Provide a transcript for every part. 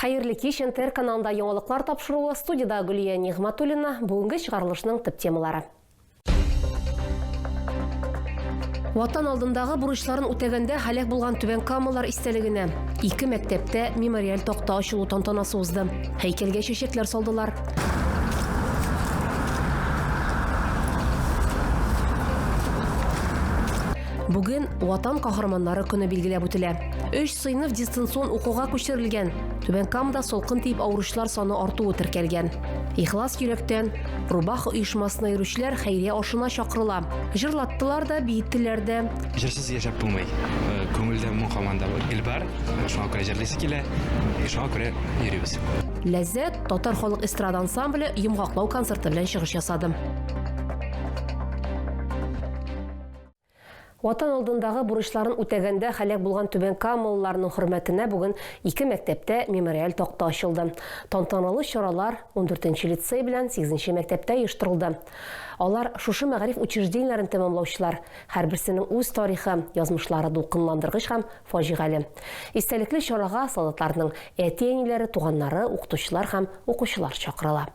Хәерле кич, НТР каналында яңалыклар тапшыруы, студида Гөлия Нигъматуллина, бүгенге чыгарылышның төп темалары. Ватан алдындагы бурычларын үтәгәндә һәлак булган Түбән Камалар истәлегенә ике мәктәптә мемориаль такта ачылу тантанасы узды. Һәйкәлгә чәчәкләр салдылар. Бүген Ватан каһарманнары көне билгеләп үтелә. Өч сыйныф дистанцион укуга күчерелгән. Түбән Камада солкын тиеп авыручылар саны артуы теркәлгән. Ихлас йөрәктән Рубах оешмасына йөрүчеләр хәйрия ашына чакырыла. Җырлаттылар да, биеттеләр дә. Җырсыз яшәп булмый. Э, күңелдә моң һаман да гел бар. Шуңа күрә җырлыйсы килә. Шуңа күрә йөрибез. Ләззәт татар халык эстрада ансамбле йомгаклау концерты белән чыгыш ясады. Ватан алдындагы бурычларын үтәгәндә һәлак булган түбәнкамалыларның хөрмәтенә бүген ике мәктәптә мемориаль такта ачылды. Тантаналы чаралар ундүртенче лицей белән сигезенче мәктәптә оештырылды. Алар, шушы мәгариф учреждениеләрен тәмамлаучылар, һәрберсенең үз тарихы, язмышлары дулкынландыргыч һәм фаҗигале. Истәлекле чарага солдатларның әти-әниләре, туганнары, укытучылар һәм укучылар чакырыла.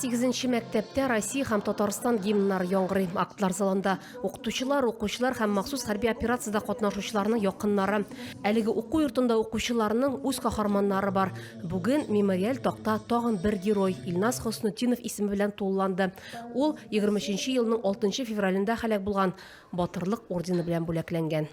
Сигезенче мәктәптә Россия һәм Татарстан гимннары яңгырый. Актлар залында укытучылар, укучылар һәм махсус хәрби операциядә катнашучыларның якыннары. Әлеге уку йортында укучыларның үз каһарманнары бар. Бүген мемориаль такта тагын бер герой Илназ Хоснутдинов исеме белән тулыланды. Ул 23 елның 6 февралендә һәлак булган. Батырлык ордены белән бүләкләнгән.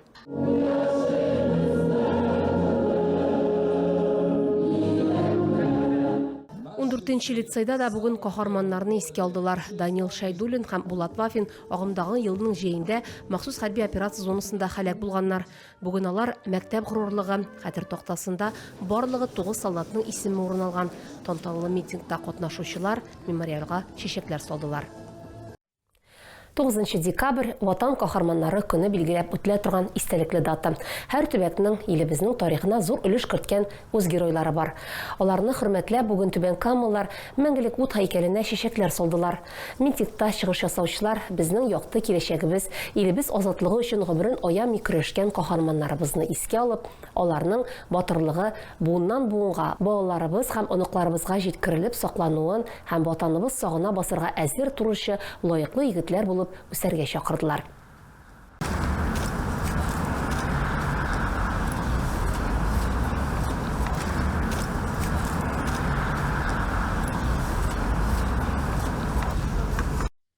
Дүртенче лицейда да бүген каһарманнарны искә алдылар. Данил Шәйдуллин һәм Булат Вафин агымдагы елның җәендә махсус хәрби операция зонасында һәлак булганнар. Бүген алар мәктәп горурлыгы хәтер тактасында барлыгы 9 солдатның исеме урын алган. Тантаналы митингта катнашучылар мемориалга чәчәкләр салдылар. Тугызынчы декабрь, Ватан каһарманнары көне билгеләп үтелә торган истәлекле дата. Һәр төбәкнең, илебезнең тарихына зур өлеш керткән үз геройлары бар. Аларны хөрмәтләп, бүген түбәнкамалылар Мәңгелек ут һәйкәленә чәчәкләр салдылар. Митингта чыгыш ясаучылар безнең якты киләчәгебез, илебез азатлыгы өчен гомерен аямый көрәшкән каһарманнарыбызны искә алып, аларның батырлыгы буыннан-буынга, балаларыбыз һәм оныкларыбызга җиткерелеп саклануын һәм Ватаныбыз сагына басырга әзер торучы лаеклы егетләр булып үсәргә чакырдылар.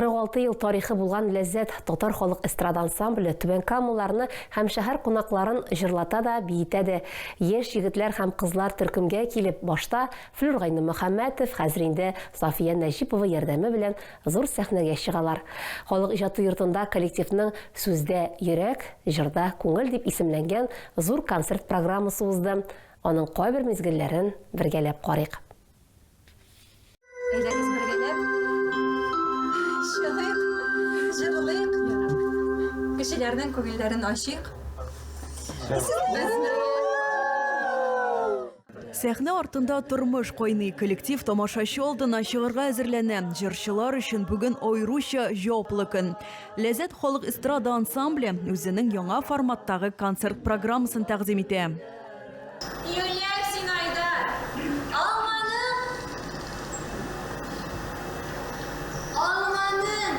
46 ел тарихы булган Ләззәт татар халык эстрада ансамбле Түбән Камаларны һәм шәһәр кунакларын җырлата да, биетә дә. Яшь егетләр һәм кызлар төркемгә килеп, башта Флюр Гайнымөхәммәтов, хәзер инде Сафия Нәҗипова ярдәме белән Зур сәхнәгә чыгалар. Халык иҗаты йортында коллективның Сүздә, йөрәк, җырда, күңел дип исемләнгән зур концерт программасы узды. Аның кайбер мизгелләрен бергәләп карыйк. Әйдәгез бергәләп чыгыйк, җырлыйк, кешеләрнең күңелләрен ачыйк. Без бергә! Сәхнә артында тормыш кайный, коллектив тамашачы алдына чыгарга әзерләнә. Җырчылар өчен бүген аеруча җаваплы көн. Ләззәт халык эстрада ансамбле үзенең яңа форматтагы концерт программасын тәкъдим итә. Юлияр, син Айдар! Алманың! Алманың!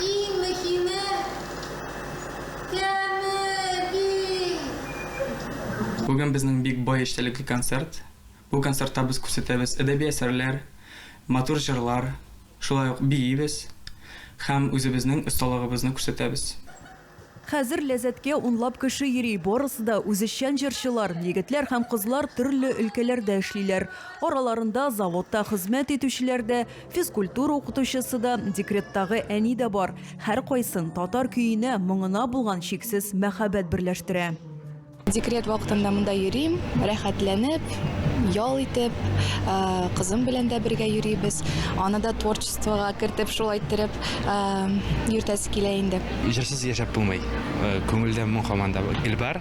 Иң мөһиме! Бүген безнең бик бай эчтәлекле концерт. Бу концертта без күрсәтәбез әдәби әсәрләр, матур җырлар, шулай ук биибез һәм үзебезнең осталыгыбызны күрсәтәбез. Хәзер Ләззәткә унлап кеше йөри, барысы да үзешчән җырчылар. Егетләр һәм кызлар төрле өлкәләрдә эшлиләр. Араларында заводта хезмәт итүчеләр дә, Физкультура укытучысы да, декреттагы әни дә бар. Һәркайсын татар көенә, моңына булган чиксез мәхәббәт берләштерә. Декрет вакытында монда йөрим, рәхәтләнеп, ял итеп, э, кызым белән дә бергә йөрибез. Аны да творчествога кертеп, шулай иттереп э, йөртәсе килә инде. Җырсыз яшәп булмый. Э, Күңелдә моң һаман да гел бар.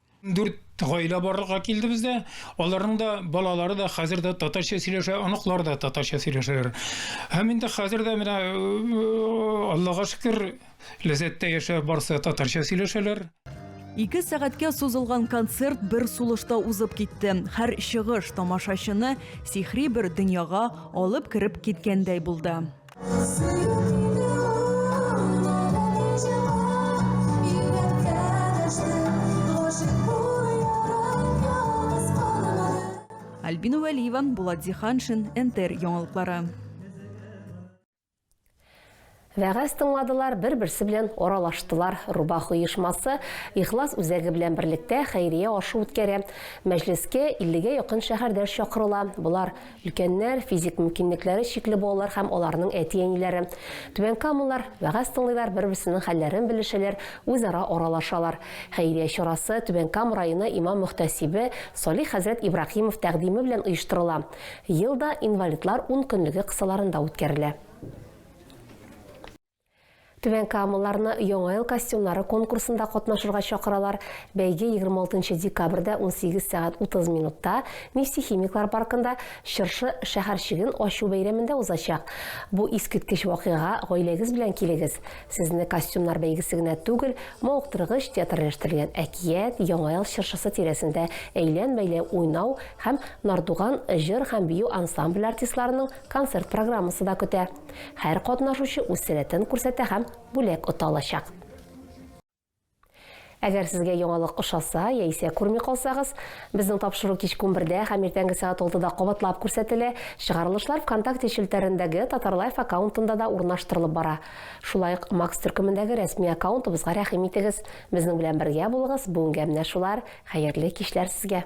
Дүрт гаилә барлыкка килде бездә. Аларның да балалары да хәзер дә татарча сөйләшә, оныклар да татарча сөйләшәләр. Һәм инде хәзер дә менә э, Аллага шөкер, ләззәттә яшәп барсы татарча сөйләшәләр. Ике сәгатькә сузылган концерт бер сулышта узып китте. Һәр чыгыш тамашачыны сихри бер дөньяга алып кереп киткәндәй булды. Альбина Вәлиева, Булат Зиханшин, НТР яңалыклары. Вәгазь тыңладылар, бер-берсе белән аралаштылар. Рубах оешмасы Ихлас үзәге белән берлектә хәйрия ашу үткәрә. Мәҗлескә 50 гә якын шәһәрдәш чакырыла. Болар Өлкәннәр, физик мөмкинлекләре чикле балалар һәм аларның әти-әниләре, түбәнкамалылар, вәгазь тыңлыйлар, бер-берсенең хәлләрен белешәләр, үзара аралашалар. Хәйрия чарасы Түбән Кама районы имам-мөхтәсибе Салих хәзрәт Ибраһимов тәкъдиме белән оештырыла. Ел да инвалидлар ункөнлеге кысаларында үткәрелә. Түбән Камаларны Яңа ел костюмнары конкурсында катнашырга чакыралар. Бәйге 26 декабрьдә 18 сәгать 30 минутта Нефтехимиклар паркында Чыршы шәһәрчеген ачу бәйрәмендә узачак. Бу искиткеч вакыйгага гаиләгез белән килегез. Сезне костюмнар бәйгесе генә түгел, мавыктыргыч театральләштерелгән әкият, Яңа ел чыршысы тирәсендә әйлән-бәйлән уйнау һәм Нардуган җыр һәм бию ансамбле артистларының концерт программасы да көтә. Һәр катнашучы үз сәләтен күрсәтә һәм бүләк ота алачак. Әгәр сезгә яңалык ошаса яисә күрми калсагыз, безнең тапшыру кичке унбердә һәм иртәнге сәгать алтыда кабатлап күрсәтелә, чыгарылышлар ВКонтакте челтәрендәге Татарлайф аккаунтында да урнаштырылып бара. Шулай ук Макс төркемендәге рәсми аккаунтыбызга рәхим итегез. Безнең белән бергә булыгыз, бүгенгә менә шулар, хәерле кичләр сезгә!